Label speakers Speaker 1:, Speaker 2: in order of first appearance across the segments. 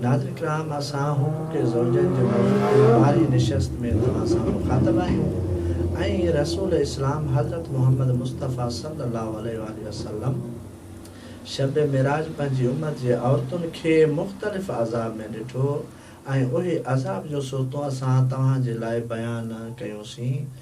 Speaker 1: ناظرين ڪرام اسان هو ڪي زوجين جي موضوع تي ٻارهين نشست ۾ توهان سان مخاطب آهيون ۽ رسول اسلام حضرت محمد مصطفيٰ صلّي الله عليه واٰله وسلّم شب معراج پنهنجي امّت جي عورتن کي مختلف عذاب ۾ ڏٺو ۽ اهي عذاب جون صورتون اسان توهان جي لاء بيان ڪيون سين.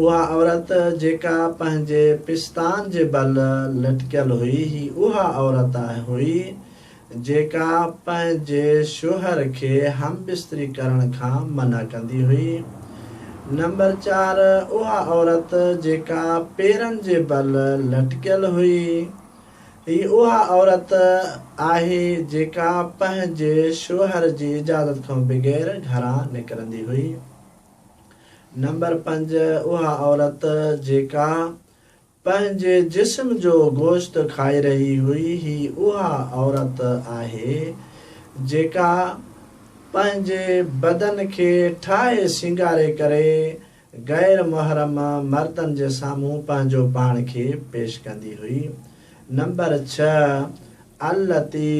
Speaker 1: اها عورت جيڪا پنهنجي پستان جي بل لٽڪيل هئي، هي اها عورت هئي، جيڪا پنهنجي شوهر کي هم بستري ڪرڻ کان منع ڪندي هئي. نمبر چار، اها عورت جيڪا پيرن جي بل لٽڪيل هئي، هي اها عورت آهي، جيڪا پنهنجي شوهر جي اجازت کان بغير گهران نڪرندي هئي. نمبر پنج، اها عورت جيڪا پنهنجي جسم جو گوشت کائي رهي هئي، هي اها عورت آهي، جيڪا پنهنجي بدن کي ٺاهي سينگاري ڪري غير محرم مردن جي سامهون پنهنجو پاڻ کي پيش ڪندي هئي. نمبر ڇهه، التي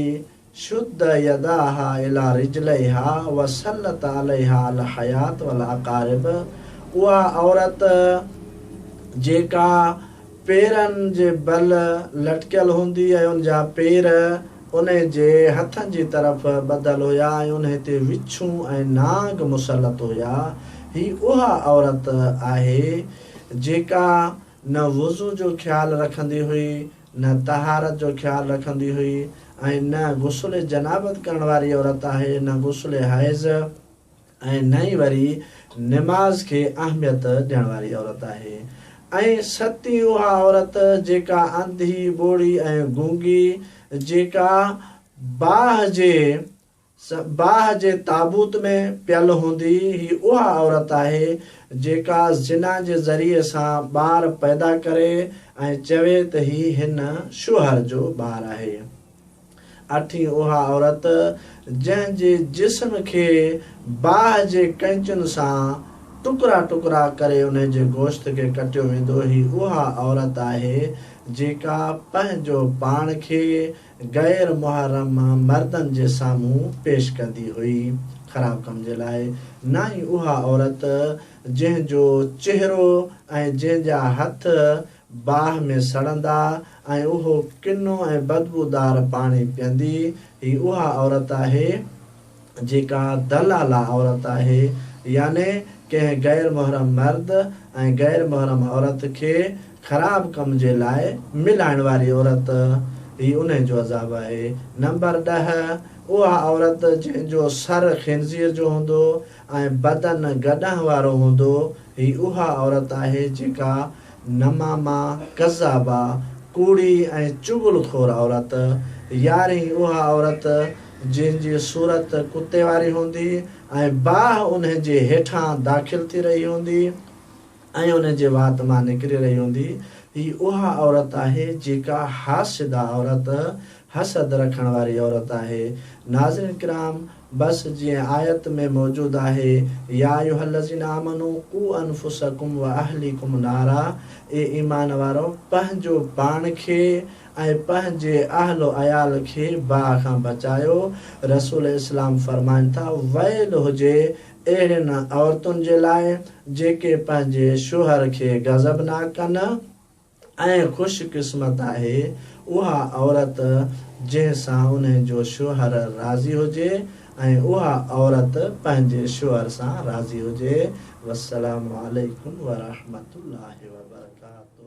Speaker 1: شد يداها الي رجليها وسلط عليها الحيات والاقارب اها عورت جيڪا پيرن جي بل لٽڪيل هوندي ۽ ان جا پير انهي جي هٿن جي طرف ٻڌل هيا ۽ انهي تي وڇون ۽ نانگ مسلط هيا هي اها عورت آهي جيڪا نه وضو جو خيال رکندي هئي، نه طهارت جو خيال رکندي هئي ۽ نه غسل جنابت ڪرڻ واري عورت آهي، نه غسل حيض ۽ نه ئي وري نماز کي اهميت ڏيڻ واري عورت آهي ۽ ستي اها عورت جيڪا انڌي، ٻوڙي ۽ گونگي جيڪا باهه جي. صباح جي تابوت ۾ پيل هوندي هي اها عورت آهي جيڪا زنا جي ذريعي سان ٻار پيدا ڪري ۽ چوي ته هي هن شوهر جو ٻار آهي. اٺين اها عورت جنهن جي جسم کي باهه جي ڪئنچن سان ٽڪرا ٽڪرا ڪري انهي جي گوشت کي ڪٽيو ويندو هي اها عورت آهي جيڪا پنهنجو پاڻ کي غير محرم مردن جي سامهون پيش ڪندي هئي، خراب ڪم جي لاء، نه ئي اها عورت جنهن جو چهرو ۽ جنهن جا هٿ باهه ۾ سڙندا ۽ اهو ڪنو ۽ بدبودار پاڻي پيئندي، هي اها عورت آهي، جيڪا دلاله عورت آهي يعني ڪنهن غير محرم مرد ۽ غير محرم عورت کي خراب ڪم جي لاء ملائڻ واري عورت هي انهي جو عذاب آهي. نمبر ڏهه، اها عورت جنهن جو سر خنزير جو هوندو ۽ بدن گڏهن وارو هوندو هي اها عورت آهي جيڪا نمامه، ڪذابه، ڪوڙي ۽ چغل خور عورت، يارهين، اها عورت جنهن جي صورت ڪتي واري هوندي ۽ باهه انهي جي هيٺان داخل ٿي رهي هوندي ۽ انهي جي وات مان نڪري رهي هوندي، هي اها عورت آهي جيڪا حاسده عورت، حسد رکڻ واري عورت آهي. ناظرين ڪرام! بس جيئن آيت ۾ موجود آهي، يا ايها الذين آمنو قو انفسکم واهليکم نارا، اي ايمان وارؤ! پنهنجو پاڻ کي، ۽ پنهنجي اهل و عيال کي باهه کان بچايو، رسول اسلام فرمائن ٿا، ويل هجي اهڙين عورتن جي لاء جيڪي پنهنجي شوهر کي غضب ناڪ ڪن ۽ خوش قسمت آهي اها عورت جنهن سان انهن جو شوهر راضي هجي ۽ اها عورت پنهنجي شوهر سان راضي هجي والسلام عليڪم ورحمة الله وبرڪاته.